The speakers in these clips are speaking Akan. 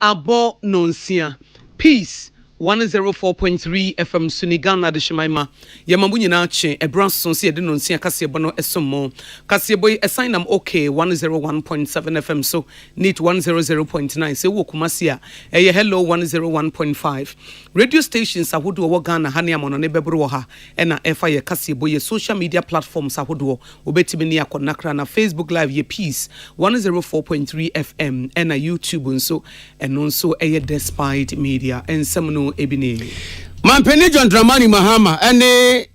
Abɔ Nnɔnsia, Peace one zero four point three FM so ni Ghana Adehyeman mma, yɛma mo nyinaa kye ɛberɛ aso sɛ yɛde Nnɔnsia kaseɛbɔ no som mo. Kaseɛbɔ yi ɛsan nam OK one zero one point seven FM so, Neat one zero zero point nine, sɛ wowɔ Kumasi a, ɛyɛ Hello one zero one point five. Radio stations ahodoɔ wɔ Ghana ha ne amɔnɔne bɛboro wɔ ha na ɛfa yɛn kaseɛbɔ yi social media platforms ahodoɔ. Wobɛtumi ne akɔ nakra na Facebook live yɛ peace one zero four point three FM ɛna YouTube nso ɛno nso ɛyɛ despite media nsɛm no ebi nee. Mampanin John Dramani Mahama ne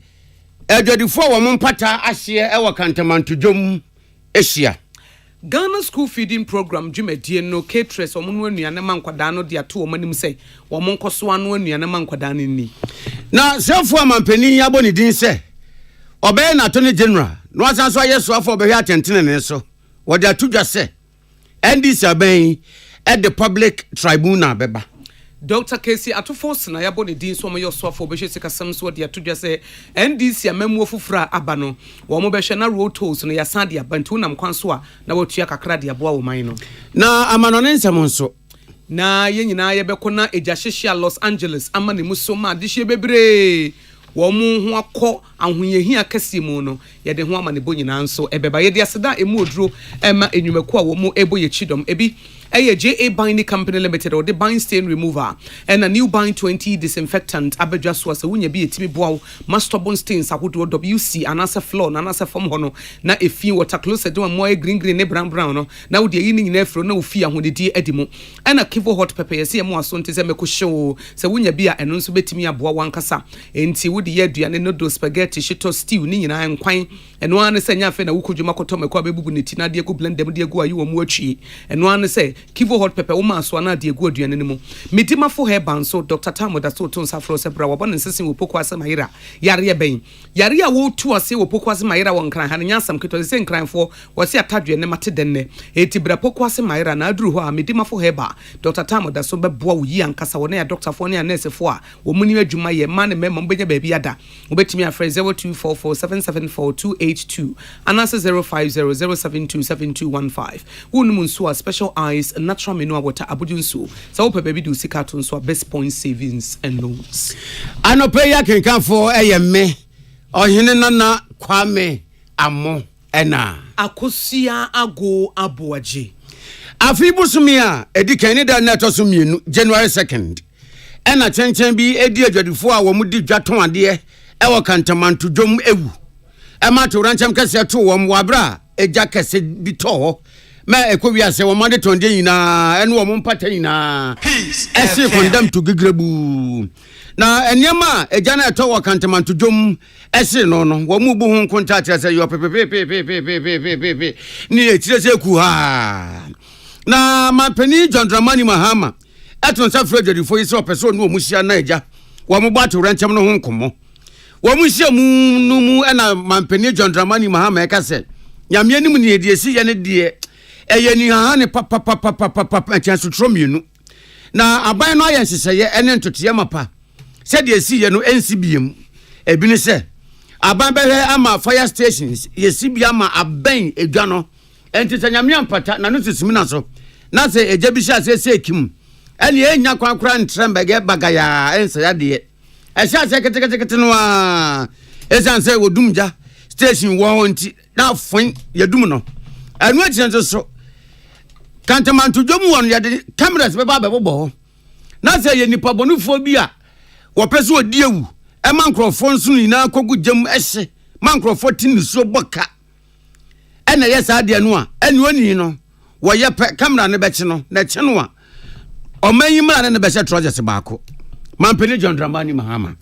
adwadifoɔ a wɔn mpata ahyeɛ wɔ Kantamanto Dwom ahyia. Ghana School Feeding Programme dwumadie no caterers a wɔnoa nnuane ma nkwadaa no de ato wɔn anim sɛ wɔn nkɔ so anoa nnuane ma nkwadaa no nni. Na Sefo a Mampanin yi abɔ ne din sɛ ɔbɛyɛ no Attorney General na wasan nso ayɛ soafo a ɔbɛhwɛ atɛntenenee so, wɔde ato dwa sɛ NDC aban yi de Public Tribunal bɛba. Dɔkta Casey Atufo Sena a yɛabɔ ne din sɛ ɔyɛ ɔsoafo a ɔbɛhwɛ sikasɛm nso adi ato dwa sɛ NDC amammuo foforɔ a aba no, wɔbɛhwɛ na road tolls no yɛasan de aba nti wonam kwan so a na woatua kakra de aboa wo man no. Na amanɔne nsɛm nso. Na yɛn nyinaa yɛbɛkɔ na egya hyehye a Los Angeles ama ne mu so ma adehyeɛ bebree. wɔn ho akɔ ahohiahia kɛseɛ mu no, yɛde ho amanebɔ nyinaa nso bɛba. Yɛde aseda a ɛmu oduro ma nnwumakuo a wɔbɔ yɛn akyi dɔm. Ebi yɛ JA Binding Company Limited a wɔde Bind Stain Remover ɛna New Bind 20 Disinfectant aba dwa so a sɛ wonya bi a ɛtumi boa wo ma stubborn stains ahodoɔ, WC, anaasɛ floor no anaasɛ fam hɔ no na ɛfi. Watercloset no a mu ayɛ green green ne brown brown no, na wode ayi ne nyinaa afiri hɔ na wofii ahonidie adi mu. Ɛna Kivo Hot Pepper yɛ sɛ yɛma wo asonte sɛ mako hye oo, sɛ wonya bi a ɛno nso bɛtumi aboa wo ankasa. Enti wode yɛ aduane, noodles, spaghetti, shito, stew, ne nyinaa nkwan. Ɛno ara ne sɛ nyɛ afei na wokɔ dwom akɔtɔ mako a bɛbubu ne ti na ade agu blender mu de agu ayowa mu atwie. Ɛno ara ne sɛ Kivo Hot Pepper wo maa so anaa de agu aduane no mu. Medimafo Herbal nso, Doctor Tamu da so reto nsa frɛ wo sɛ bra, wabɔ ne nsese wɔ poko asɛm ayera yareɛ bɛn? Yare a wɔretu ase wɔ Pokuase Mayera wɔ Nkran ha no nyɛ asɛm ketewa. Te sɛ Nkranfoɔ, wɔse atadweɛ ne mate dɛ nnɛ. Enti bra Pokuase Mayera na aduru hɔ a, me Dimafo Herbal Dɔkta Tam da so bɛboa wo yie ankasa. Wɔne adɔktafoɔ ne anɛɛsefoɔ a wɔnim adwuma yɛ. Mmaa ne mmarima, mobɛnya baabi ada. Wobɛtumi afrɛ 0244 774 282 anaasɛ 0500 727 215. Wonom nsuo a, special ice, natural mineral water, abodwo nsuo. Sɛ wopɛ baabi de wo sika ato nso a, Best Point Savings and Loans. Anɔpa yi akenkanfoɔ yɛ me, Ɔhene Nana Kwame Amo ɛna. Akosua Ago Aboagye. Afe yi bosome a ɛdi kan ne da nna ɛtɔ so mmienu, January 2nd, ɛna kyɛnkyɛn bi di adwadifoɔ a wɔn di dwa tɔn adeɛ ɛwɔ Kantamanto dwom ɛwu ɛma atoyerɛnkyɛm kɛseɛ too wɔn wɔ abere a Egya kɛse bi tɔɔ hɔ ma ɛkɔ wia sɛ wɔn ade tɔndeɛ nyinaa ɛne wɔn mpata nyinaa ɛsee kɔndam to gegerebuu. Na nneɛma a egya no ɛtɔ wɔ kantamanto dwom ɛsee no no wɔn bu ho nkontaa kyerɛ sɛ yɔ pepepepepepepepepepepe ne ɛkyerɛ sɛ kuhaa. Na Manpanin John Dramani Mahama ɛto nsa frɛ adwadifoɔ yi sɛ ɔpɛ sɛ ɔne wɔn hyia na agya wɔn bɔ atowerɛnkyɛm no ho nkɔmmɔ. Wɔn nhyiamu no mu na Mampanin John Dramani Mahama ɛka sɛ, Nyame anim nea deɛ ɛsi yɛ no deɛ ɛyɛ anihahane papapapapapap ɛkyɛn sotorɔ mmienu. Na aban no ayɛ nhyehyɛeɛ ne ntoteɛ mapa sɛ deɛ ɛsi yɛ no ɛnsi biem. Ebi ne sɛ, aban bɛhwɛ ama fire stations yɛsi bi ama abɛn edwa no. Enti sɛ Nyame ampata na no so simina so na sɛ egya bi hyɛ aseɛ sɛɛ kim ɛneɛ ɛnnya kwan koraa ntra mbɛgɛɛ bagayaa ɛnsɛe adeɛ. Ɛhyɛ aseɛ ketekete no ara ɛsiane sɛ wɔdum gya station wɔ hɔ nti na afɔn yɛdum no. Ɛno akyire nso so Kantamanto dwom wɔ no yɛde cameras bɛba abɛbobɔ hɔ na sɛ ɛyɛ nipa bɔnefoɔ bi a wɔpɛ sɛ ɔdi awu ɛma nkurɔfoɔ nso no nyinaa kɔgu gyam ɛhye ma nkurɔfoɔ te nisuo bɔ ka. ɛna ɛyɛ saa deɛ no a ɛne ɔnii no wɔyɛ pɛ kamera no bɛkye no na ɛkye no a ɔma yi mmara ne no bɛhyɛ trɔgyɛse baako mampani John Dramani Mahama.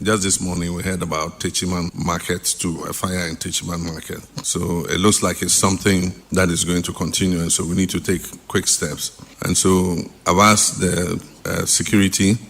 Just this morning we heard about Techiman market too, a fire in Techiman market. So it looks like it's something that is going to continue and so we need to take quick steps. And so I've asked the uh, security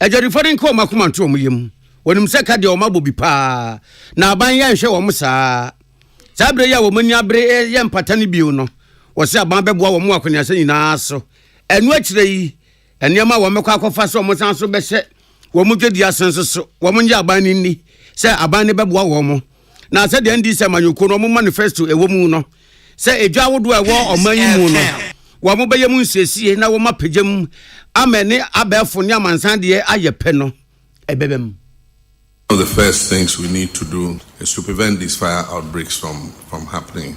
Adwadifo no nka wɔn akoma nto wɔn yam. Wɔnim sɛ ka deɛ wɔabɔ bi paa, na aban yɛ nhwɛ wɔn saa. Saa berɛ yi a wɔn ani abere reyɛ mpata no bio no, wɔse aban bɛboa wɔn wɔ akɔneasa nyinaa so. Ɛno akyire yi, nneɛma a wɔbɛkɔ akɔfa so wɔsan so bɛhyɛ wɔn dwadie ase nso so. Wɔn nnye aban no nni sɛ aban no bɛboa wɔn. Na sɛdeɛ ɛndi sɛ amanyɔkuo no wɔn manifesto ɛwɔ mu no, sɛ edwa ahodoɔ a ɛwɔ ɔman yi mu no, wɔn bɛyɛ mu nsiesie na wɔn apagya mu ama ɛne abɛɛfo ne amansan deɛ ayɛ pɛ no ɛbɛba mu. One of the first things we need to do is to prevent these fire outbreaks from from happening.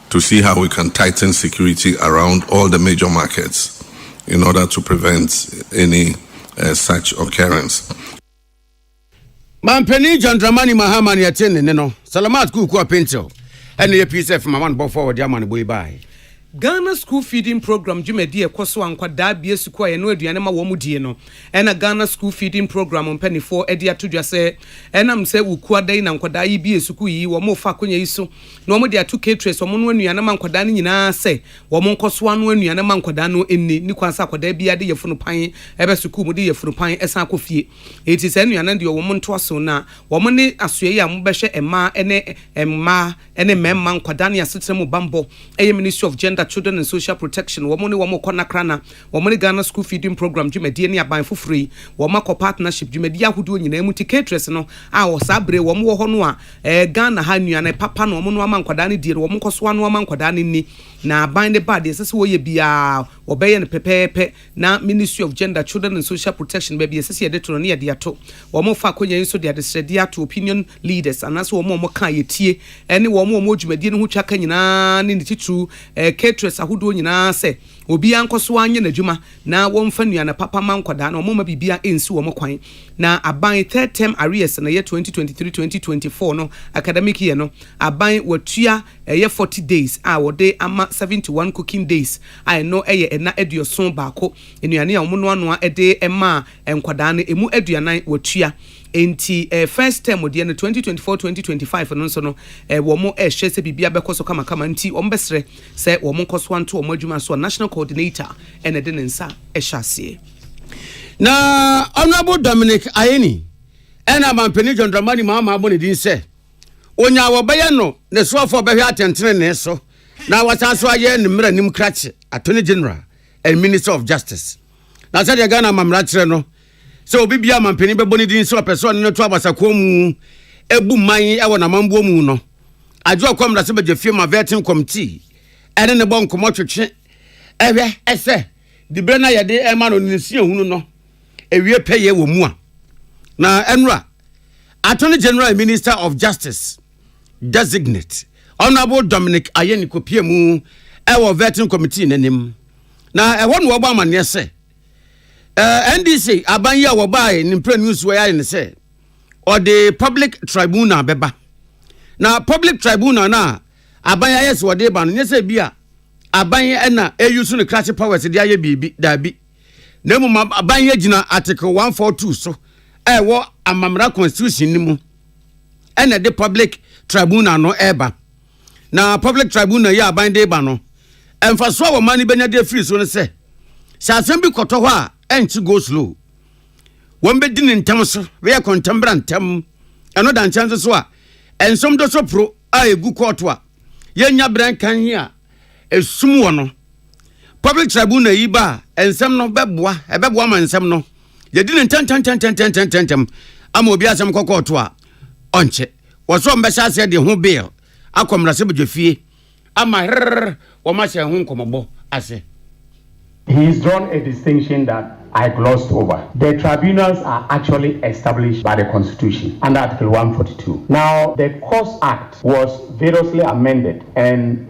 to see how we can tighten security around all the major markets in order to prevent any such occurrence. Mampanin John Dramani Mahama ne ɛte ne ne no Salamat Kuku Apintil ɛna yɛ PSF mamanbɔfoɔ a wɔde amanebɔ yi baeɛ. Ghana School Feeding Programme dwumadi a ɛkɔ so a nkwadaa bea sukuu a yɛno aduane ma wɔn die no ɛna Ghana School Feeding Programme mpanimfoɔ de ato dwa sɛ ɛnam sɛ wukuada yi na nkwadaa yi bie sukuu yi wɔn refa akonya yi so Na wɔde ato Katres wɔn noa nnuane mma nkwadaa no nyinaa sɛ wɔn nkɔ soa noa nnuane mma nkwadaa no nni. Nni kwan sɛ akwadaa biara de yafunu pan ba sukuu mu de yafunu pan san kɔ fie. Enti saa nnuane no deɛ wɔn ntoa so na wɔn ne asoɛeɛ a wɔbɛhwɛ mmaa ne mmaa ne mmarima nkwadaa ne asetena mu bammɔ ɛyɛ Ministry of Gender, Children and Social Protection wɔn ne wɔn rekɔ nakra na Wɔne Ghana School Feeding Programme dwumadie ne aban foforɔ yi wɔn akɔ partnership dwumadie ahodoɔ nyinaa mu nti caterers no a wɔ saa berɛ yi wɔn wɔ hɔ no a ɛɛ Ghana ha nnuane a ɛpapa na wɔn noa ma nkwadaa no die no wɔn nkɔ so anoa ma nkwadaa no nni na aban no ba a deɛ ɛsɛ sɛ wɔyɛ biara wɔbɛyɛ no pɛpɛɛpɛ na Ministry of Gender, Children and Social Protection baabi ɛsɛ sɛ yɛde to no ne yɛde ato wɔn fa akonnwa yi nso de adesrɛdeɛ ato opinion leaders anaasɛ wɔn a wɔn ka a yɛtie ɛne wɔn a wɔn wɔ dwumadie no ho twa ka nyinaa ne ne titiriw ɛɛ caterers ahodoɔ nyinaa sɛ Obiara nkɔ so ara nyɛ n'adwuma na wɔmfa nnuane papa mma nkwadaa na wɔmma biribiara nsi wɔn kwan. Na aban, Third Term Arrears na ɛyɛ 2023-2024 no academic year no, aban wɔatua ɛyɛ 40 days a wɔde ama 71 cooking days a ɛno yɛ nna aduɔson baako nnuane a wɔnoanoa de ma nkwadaa no, ɛmu aduanan wɔatua. Enti first term deɛ no 2024-2025 no nso no wɔhyɛ sɛ biribiara bɛkɔ so kamakama nti wɔbɛsrɛ sɛ wɔn nkɔ so nto wɔn adwuma so a national coordinator na ɛde ne nsa hyɛ aseɛ. Na Honourable Dominic Ayeni ɛna amampanin John Dramani Mahama abɔ ne din sɛ onyaa wɔbɛyɛ no ne soɔfoɔ bɛhwɛ atɛntenenee so na wasan so ayɛ ne mmerɛ nim krakye Attorney General and Minister of Justice. Na sɛdeɛ Ghana amammerɛ akyerɛ no sɛ obi biara a ɔmampanin bɛbɔ ne din sɛ ɔpɛ sɛ ɔne no to abasa kɔn mu bu man wɔ n'amamboɔ mu no, adwo ɔkɔ mmarahyɛ badwa fie ma vetting committee ɛne ne bɔ nkɔmmɔ twetwe ɛhwɛ ɛsɛ diberɛ no a yɛde ɛma no ne ne suahunu no ɛwie pɛyɛ wɔ mua na ɛnora Attorney General Minister of Justice Designate Honorable Dominic Ayeni kɔpie mu ɛwɔ vetting committee n'anim na ɛhɔ na wɔbɔ amanneɛ sɛ Eh, NDC aban yi a wɔbae ne mprenu nsuo yɛ ayɛ ne sɛ ɔde public tribunal bɛba. Na public tribunal no a aban ayɛ sɛ ɔde ba no nyɛ sɛ bi a aban ɛna ɛyi so ne krakye powers de ayɛ biribi daabi. Na mmom aban yɛ gyina article 142 so a ɛwɔ amamra constitution no mu ɛna ɛde public tribunal no ɛba. Na public tribunal yi a aban de reba no, mfaso a ɔman no bɛnya de afiri so ne sɛ, sɛ asɛm bi kɔtɔ hɔ a, ɛnkye go slow. Wɔbɛdi no ntɛm so, bɛyɛ kɔntɛmbra ntɛm. Ɛno da nkyɛn nso so a, nsɛm dosoporo a ɛgu kɔɔto a yɛnnya berɛ nkan he a ɛsum wɔ no, public tribunal yi ba a, nsɛm no bɛboa, ɛbɛboa ma nsɛm no yɛdi no ntɛntɛntɛntɛntɛntɛntɛm ama obi asɛm kɔ kɔɔto a, ɔnkye. Wɔ sɛ wɔbɛhyɛ aseɛ de ho bill akɔ mmarahyɛbadwafie ama herr wɔahyɛ ho nkɔmmɔbɔ ase. He is drawn a distinction that I glossed over. The tribunals are actually established by the Constitution under Article one forty two. Now the Courts Act was variously amended and.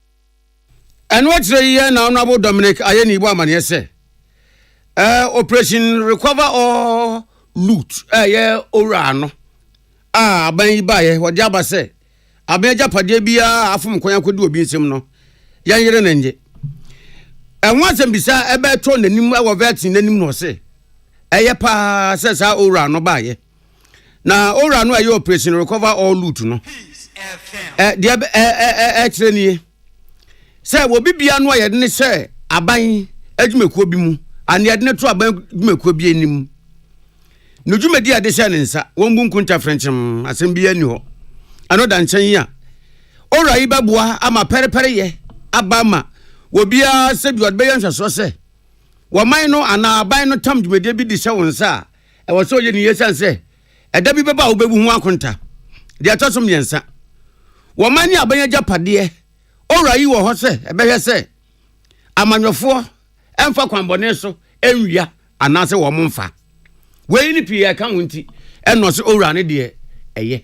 Ɛno akyire yi yɛn na Honorable Dominic Ayeni bɔ amaneɛ sɛ eh, operation recover all loot a ɛyɛ owura ano a aban yi baeɛ wɔde aba sɛ aban agyapadeɛ biara a afom kwan akɔdi obi nsam no yɛn yere no nye ɛho asɛmbisa ɛbɛtɔ n'anim wɔ vaccine n'anim na ɔse ɛyɛ paa sɛ saa owura ano baeɛ Na owura no a ɛyɛ operation recover all loot no ɛ deɛ ɛ ɛ ɛkyerɛ nie sɛ obi bia no a yɛde ne hyɛ aban adwumakuo bi mu anaa yɛde ne to aban adwumakuo bi anim ne dwumadi a yɛde hyɛ ne nsa wɔn bu nkunta frenkyem asɛm bi ani hɔ ɛno da nkyɛn yi a owura yi bɛboa ama pɛrepɛre yɛ aba ma obiara sɛ bi ɔde bɛyɛ nhwɛsoɔ sɛ wɔman no anaa aban no tam dwumadie bi de hyɛ wɔn nsa a Ɛwɔ sɛ ɔyɛ ne yie sane sɛ ɛda bi bɛba a wobɛbu ho akonta. Deɛ ɛtɔ so mmiɛnsa, wɔman ne aban agyapadeɛ owura yi wɔ hɔ sɛ ɛbɛhwɛ sɛ amanyɔfoɔ mfa kwanbɔne so nwia anaasɛ wɔn mfa. Wei ne pii a ɛka ho nti ɛna ɔse owura ne deɛ ɛyɛ.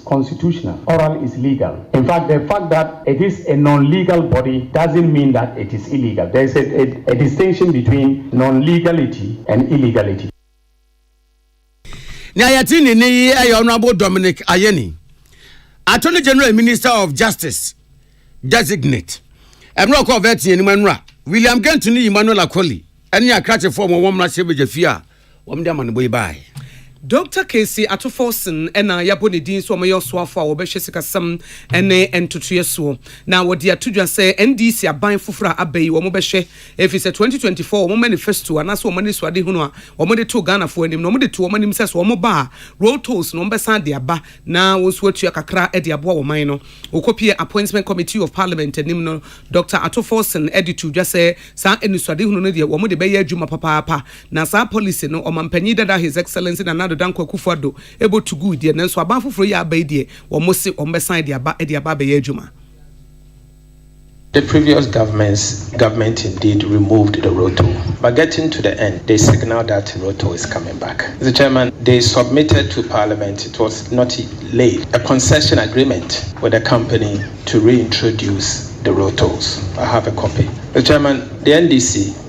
constitutional oral is legal in fact the fact that it is a non legal body doesn't mean that it is illegal there is a, a, a distinction between non legality and illegality. Nea yɛte ne nne yi yɛ Honourable Dominic Ayeni, Attorney General and Minister of Justice designate. Ɛno ɔkɔ ɔvɛ teɛ anim anura. William Gentu ne Emmanuel Akoli ne akratefoɔ a wɔwɔ mmarahyɛ badwafie a wɔde amanebɔ yi bae. Dɔkta Casey Ato Forson na yɛabɔ ne din sɛ ɔyɛ ɔsoafo a wɔbɛhwɛ sikasɛm ne ntotoeɛ soɔ. Na wɔde ato dwa sɛ NDC aban foforɔ a aba yi wɔbɛhwɛ ɛfiri sɛ 2024 wɔn manifesto anaasɛ wɔn anisoadehunu a wɔde too Ghanafoɔ anim no wɔde too wɔn anim sɛ sɛ wɔba a roll tolls no wɔbɛsan de aba na wɔn nso wɔatua kakra de aboa wɔn man no. Wɔkɔpuee Appointment Committee of Parliament anim no Dɔkta Ato Forson de too dwa sɛ saa anisoadehunu no deɛ wɔde bɛyɛ adwuma papaapa Na saa policy no Ɔmampanyin dada His Excellency Nana Addo Dankwa Akufo Addo botu gui deɛ nanso aban foforɔ yi a aba yi deɛ wɔn se wɔn bɛsan de aba de aba abɛyɛ adwuma. The previous government's government indeed removed the road toll but getting to the end they signalled that road toll is coming back. Mister Chairman, they submitted to Parliament, it was not laid, a concession agreement with the company to reintroduce the road tolls. I have a copy. Mister Chairman, the NDC,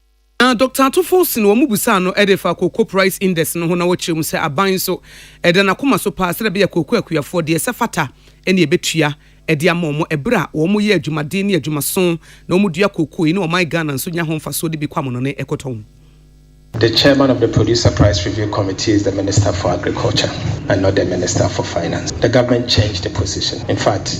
Na Dɔkta Atufo se na wɔbisaa no de fa Cocoa Price Index no ho na wɔkyerɛ mu sɛ aban nso da n'akoma so paa sɛdeɛ ɛbɛyɛ cocoa akuafoɔ deɛ ɛsɛ fata ne ɛbɛtua de ama wɔn ɛberɛ a wɔyɛ adwumaden ne adwumaso na wɔdua cocoa yi na ɔman Ghana nso nya ho mfasoɔ de bi kɔ amonɔne kɔtɔn. The chairman of the Producer Price Review Committee is the Minister for Agriculture and not the Minister for Finance. The government changed the position. In fact,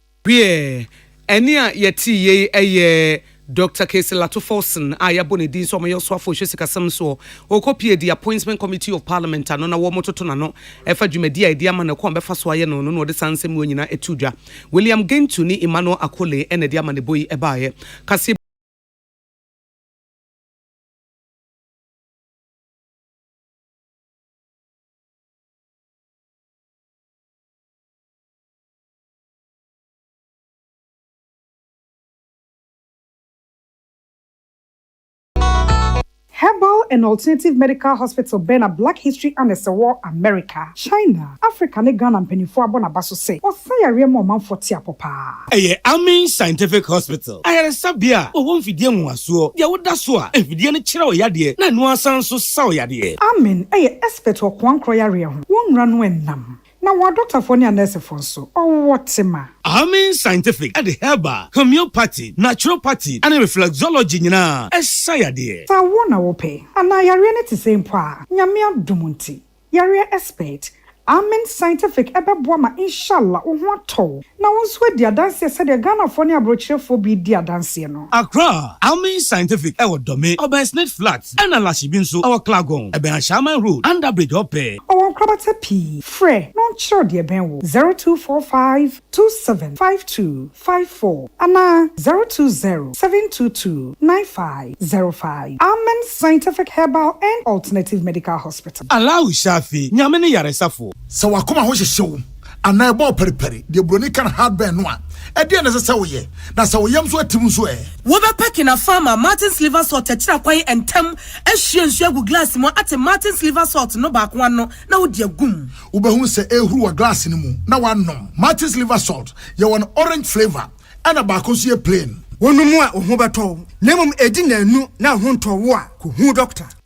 Wiɛ, ɛnne a yɛtee yei yɛ Dɔkta Casey Latto-Forson a yɛabɔ ne din sɛ ɔyɛ ɔsoafoɔ hwɛ sikasɛm soɔ. Ɔkɔpuee The Appointment Committee of Parliament ano na wɔtoto n'ano fa dwumadie a ɛde ama no, ɛkwan a ɔbɛfa so ayɛ no, no na ɔde saa nsɛm wei nyinaa too dwa. William Gentoo ne Emmanuel Akole na ɛde amanebɔ yi baeɛ. Kaseɛbɔ. Herbal and Alternative Medical Hospital bɛn na Black History Annex ɛwɔ Amerika, China, Afrika ne Ghana mpanyimfo abɔ n'aba so sɛ ɔsa yareɛ ma ɔmanfoɔ te apɔ paa? Ɛyɛ Amin Scientific Hospital, ayaresabea a wɔwɔ mfidie nwowasoɔ, deɛ woda so a mfidie no kyerɛ wo yadeɛ na ɛno ara san nso sa wo yadeɛ. Amin yɛ expert wɔ koankorɔ yareɛ ho, wɔn nwura no nnam. Na wɔn adɔktafoɔ ne anɛɛsefoɔ nso, wɔwɔ tema. Amin Scientific de herbal, homeopathy, naturopathy, ne reflexology nyinaa sa yadeɛ. Sɛ wo na wopɛ, anaa yareɛ no te sei mpo a, Nyame adom nti, yareɛ expert, Amin Scientific bɛboa ma inshallah wo ho atɔ wo Na wo nso adi adanseɛ sɛdeɛ Ghanafoɔ ne aborɔkyerefoɔ bi redi adanseɛ no. Accra, Army Scientific wɔ Dome, ɔbɛn Snitch Flats, ɛna Lashy bi nso wɔ Klagon, ɛbɛn Ashaiman Road, under bridge Ɔpɛ. Ɔwɔ nkorabata pii. Frɛ na ɔnkyerɛ wo deɛ ɛbɛn wo, zero two four five two seven five two five four anaa zero two zero seven two two nine five zero five. Amen Scientific Herbal and Alternative Medical Hospital. Allahu Shafi, Nyame ne Yaresafo. Sɛ w'akoma ho hyehye wo. Anaa ɛbɔɔ pɛrepɛre, deɛ buroni ka no heartburn no a, ɛdeɛn na ɛsɛ sɛ woyɛ? Na sɛ wo yam nso atim nso ɛ? Wobɛpaki na fa ama Martin's Liver Salt akyira kwan ntɛm, ahwie nsuo agu glass mu, ate Martin's Liver Salt no baako ano, na wode agu mu. Wobɛhunu sɛ ɛrehuru wɔ glass no mu, na woanom. Martin's Liver Salt yɛ wɔn orange flavour, ɛnna baako nso yɛ plain. Wonom a, wo ho bɛtɔ wo, na mmom ɛdi nnanu na wo ho ntɔ wo a, kɔhu dɔkta.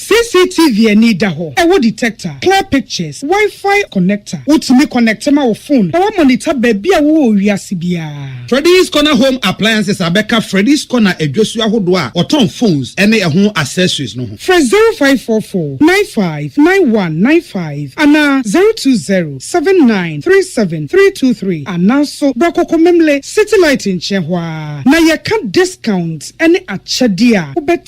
CCTV ani da hɔ, ɛwɔ detector, clear pictures, Wi-Fi connector, wotumi connect ma wo phone na woamonitor baabi a wowɔ wɔ wiase biara. Freddy's Corner Home Appliances a bɛka Freddy's Corner adwasu ahodoɔ a wɔtɔn phones ne ɛho accessories no ho. Frɛ zero five four four nine five nine one nine five anaa zero two zero seven nine three seven three two three anaa nso bra Kɔkɔmemle City Light nkyɛn hɔ ara na yɛka discount ne akyɛdeɛ a wobɛ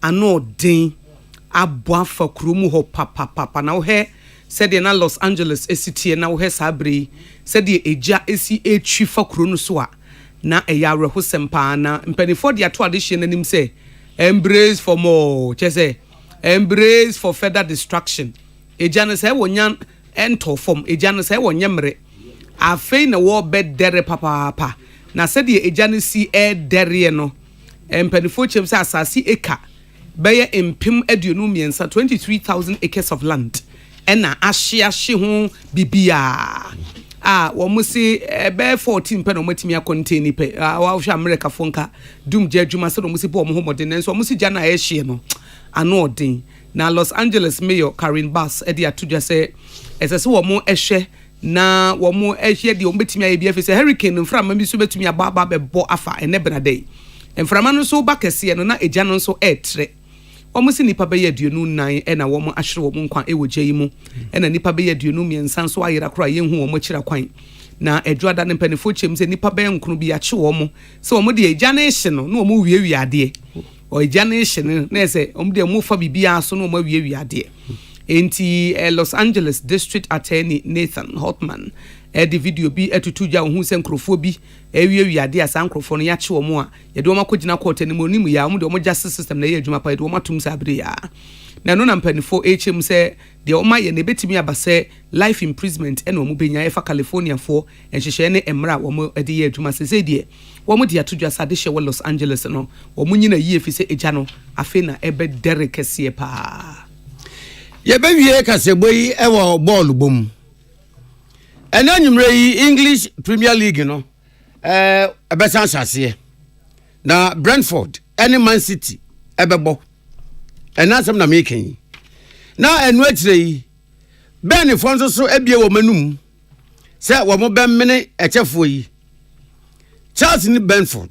Anoɔden abɔ afa kuro mu hɔ papapapa na wohɛ sɛdeɛ na Los Angeles si teɛ na wohɛ saa berɛ yi sɛdeɛ egya si retwi fa kuro no so a, na ɛyɛ awerɛhosɛm pa ara. Na mpaninfoɔ de ato adehyeɛ no anim sɛ, Embrace for more, kyerɛ sɛ, Embrace for further destruction. Egya no sɛɛ wɔnya ntɔɔ fam, egya no sɛɛ wɔnyɛ mmerɛ. Afei na wɔrebɛdɛre papaapa, na sɛdeɛ egya no si redɛreɛ no, Mpanimfoɔ kyerɛm sɛ asase acre bɛyɛ mpem aduonu mmiɛnsa, twenty three thousand acres of land, ɛna ahyeahye ho bibiaa a wɔn se ɛbɛyɛ fourteen pɛ na wɔn atumi akɔnten ni pɛ a wɔahwɛ Amerikafoɔ nka dum gya adwuma sɛ na wɔn si bɔ wɔn ho mmɔden nanso wɔn se gya no a ɛhyeɛ no ano ɔden na Los Angeles Mayor Karen Bass ɛde ato dwa sɛ ɛsɛ sɛ wɔn ɛhwɛ na wɔahwehwɛ deɛ wɔbɛtumi ayɛ bi afiri sɛ hurricane no mframa bi nso bɛtumi abɔ aba abɛbɔ afa ɛnɛ benada yi. Mframa no nso ba kɛseɛ no na egya no nso retrɛ. Wɔn se nnipa bɛyɛ aduonu nnan na wɔn ahwere wɔn nkwa wɔ gya yi mu ɛna nnipa bɛyɛ aduonu mmiɛnsa nso ayera koraa yɛnhu wɔn akyira kwan. Na Adwoada no mpanimfoɔ kyerɛm sɛ nnipa bɛyɛ nkono bi yɛakye wɔn sɛ wɔn deɛ egya no rehye no na wɔrewiawia adeɛ. Ɔagya no hye no na ɛsɛ wɔn deɛ wɔfa biribiara so na wɔn awiawia adeɛ. Enti eh, Los Angeles District Attorney Nathan Hotman eh, de video bi atutu gya ohun sɛ nkurɔfoɔ bi awiawia adeɛ a saa nkurɔfoɔ no yɛakye wɔn a yɛde wɔn akɔgyina kɔɔt anim onim yɛ a wɔn deɛ wɔn justice system na ɛyɛ adwuma pa yɛde wɔn atom saa bere yɛ a na ɛno na mpanimfoɔ ɛrekyɛ mu sɛ deɛ wɔn ayɛ no ɛbɛtumi aba sɛ life imprisonment ɛna wɔn bɛnya ɛfa Californiafoɔ nhyehyɛe ne mmara a wɔde yɛ adwuma. Seesei deɛ, wɔde ato dwa sɛ adehye a ɛwɔ Los Angeles no, wɔnnyina yie efisɛ egya no afei na ɛrebɛdɛre kɛseɛ paa. Yɛbɛwie kaseɛbɔ yi wɔ bɔɔlo bɔ mu. Ɛnɛ anwummerɛ yi English Premier League no ɛbɛsan ahyɛ aseɛ na Brentford ne Man City ɛbɛbɔ. Ɛnɛ asɛm na meka yi. Na ɛno akyire yi bɛɛnefoɔ nso so abie wɔn anum sɛ wɔbɛmene ɛkyɛfoɔ yi Charles ne Benford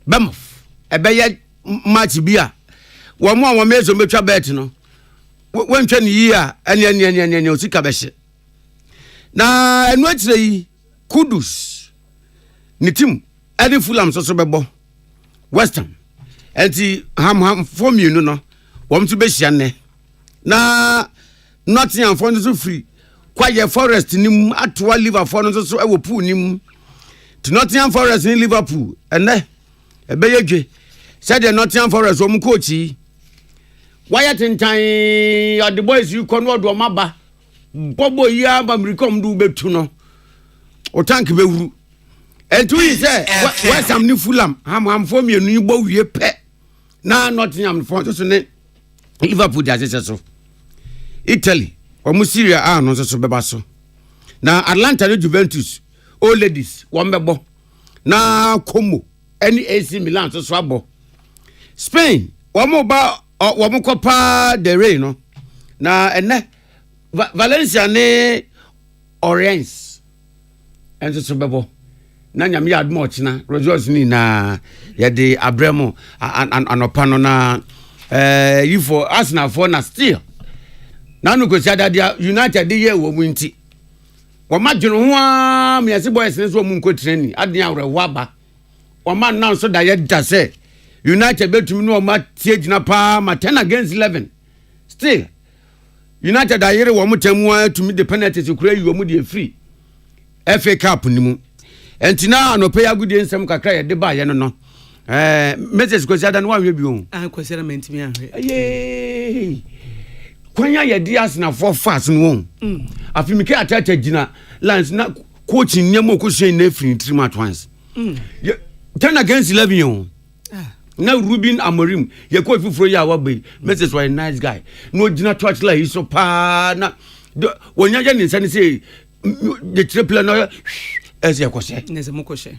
bɛma ɛbɛyɛ match bi a wɔn a wɔn ɛsɛ wɔbɛtwa bet no wɔntwa ne yie a ɛneɛ neɛ neɛ neɛ neɛ osika bɛhyɛ na ɛno akyire yi Kudus ne tim ɛne Fulham soso bɛbɔ West Ham ɛnti hamhamfoɔ mmienu no wɔn nso bɛhyia nnɛ na Nottinghamfoɔ nso so firi kwaeɛ Forest no mu atoa Liverfoɔ no nso so wɔ pool no mu. Nti Nottingham Forest ne Liverpool ɛnɛ ɛbɛyɛ dwe sɛdeɛ Nottingham Forest wɔn coach yi wayɛ tentan ɔde boys yi kɔ no ɔde wɔn aba bɔbɔ yi aba mmirika wɔn de wobɛtu no o tank bɛwuru. Ɛtu yi sɛ West Ham ne Fulham hamhamfoɔ mmienu yi bɔ wie pɛ na Nottingham foɔ nso so ne Liverpool de ahyehyɛ so. Italy, wɔn Serie A no nso so bɛba so. Na Atlanta ne Juventus, Old Ladies, wɔn bɛbɔ. Na Como ne AC Milan nso so abɔ. Spain, wɔn ba wɔn kɔ paa De Rey no. Na ɛnɛ Valencia ne Orleans. nso so bɛbɔ na nyame yɛ adom ɔkyena results no nyinaa yɛde abrɛ mu anɔpa no na eh, yifoɔ asenafoɔ na still na no kɔsi adadeɛ united de yɛɛ wɔ mu nti wɔma dwene ho a meɛse boys no so ɔmu nkɔ trani aden awerɛho aba wɔma nna nso da yɛ da sɛ united bɛtumi ne ɔma tie gyina paa ma 10 against 11 still United ayere wɔn ta mu ara tumi de penalties kura yi wɔn deɛ firi FA Cup no mu. Ɛnti na anɔpɛ yi agodie nsɛm kakra yɛde baeɛ no no. Eh, Mrs. Kwasiada no wanhwɛ bio. Ah, Kwasiada mantumi anhwɛ. Ayee. Kwan a yɛde asenafoɔ fa ase no wɔn. Mm. Afei Mikel Arteta gyina lines na coach nneɛma ɔkɔsua nyinaa firi ne tirim at once. Mm. Ten against eleven o. na Ruben Amorim yɛ coach foforɔ yi a waba yi Mrs ɔyɛ nice guy na ɔgyina touch line yi so paa na wɔnya yɛ ne nsa no sɛ yɛkyerɛ pila na ɔyɛ ɛsɛ yɛkɔhyɛ ɛsɛ mokɔhyɛ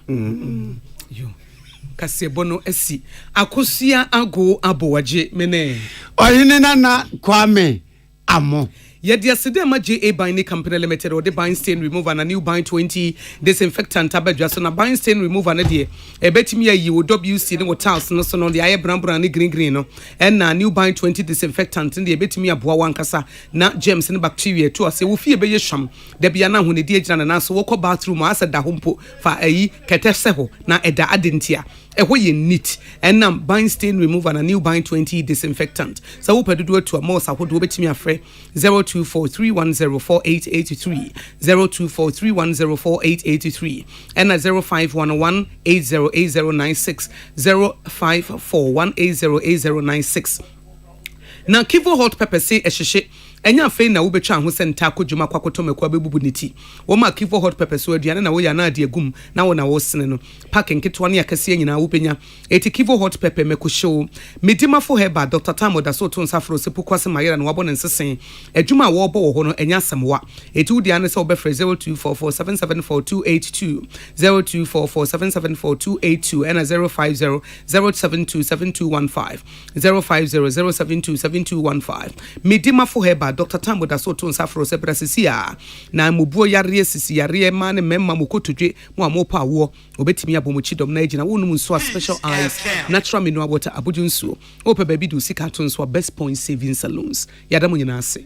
kaseɛbɔ no asi akosua ago aboagye me ne ɔhene nana kwame ammo. Yɛde aseda rema JA Ban ne Company Limited a wɔde ban stain remover na new ban 20 disinfectant aba dwa so. Na ban stain remover no deɛ ɛbɛtumi ayi wo WC ne wo tiles no so no deɛ ayɛ brown brown ne green green no. Ɛna new ban 20 disinfectant no deɛ ɛbɛtumi aboa wo ankasa na germs ne bacteria atu aseɛ. Wo fie bɛyɛ hwam da biara na ahonidie agyina no nan so. Wokɔ bathroom a asɛ da hɔ mpo fa ayi kɛtɛ sɛ hɔ na ɛda adɛn ntia? Ɛhɔ yɛ neat. Ɛnam ban stain remover na new ban twenty disinfectant. Sɛ wopɛ dodoɔ atu a, malls ahodoɔ wobɛtumi afrɛ zero two four three one zero four eight eight three, zero two four three one zero four eight eight three, ɛna zero five one one eight zero eight zero nine six, zero five four one eight zero eight zero nine six. Na Kivo hot pepper se ɛhyehye ɛnyɛ afei na wobɛtwa ho sɛ ntaa kɔ dwuma kɔ akɔtɔ mako abɛbubu ne ti. Wɔma Kivo hot pepper so aduane na woyɛ anaa de agum na wo na wosene no. Park nketewa ne akɛseɛ nyinaa wo bɛnya. Eti Kivo Hot Pepper, Mako Hyew, Medimafo Herbal, Doctor Tam ɔda so reto nsa frɛ Ɔsɛpu Kwasi Mayera na wabɔ ne nsese. Adwuma a wɔrebɔ wɔ hɔ no, ɛnyɛ asɛmwa. Eti wo deɛ ara ne sɛ wo bɛfrɛ 0244774282, 0244774282 ɛna 0500727215, 0500727215. Medimafo Herbal, Doctor Tam ɔda so reto nsa frɛ wo sɛ bra seesei ara na mmubuo yareɛ, sisi yareɛ, mmaa ne mmarima, mo kotodwe, Mo a mopɛ awoɔ, wɔbɛtumi abɔ mo kyidɔm na agyina. Wonom nsuo a Special Eyes Natural Mineral Water abodwo nsuo. Wopɛ baabi de wo sika ato nso a Best Point Savings and Loans. Yɛada mo nyinaa ase.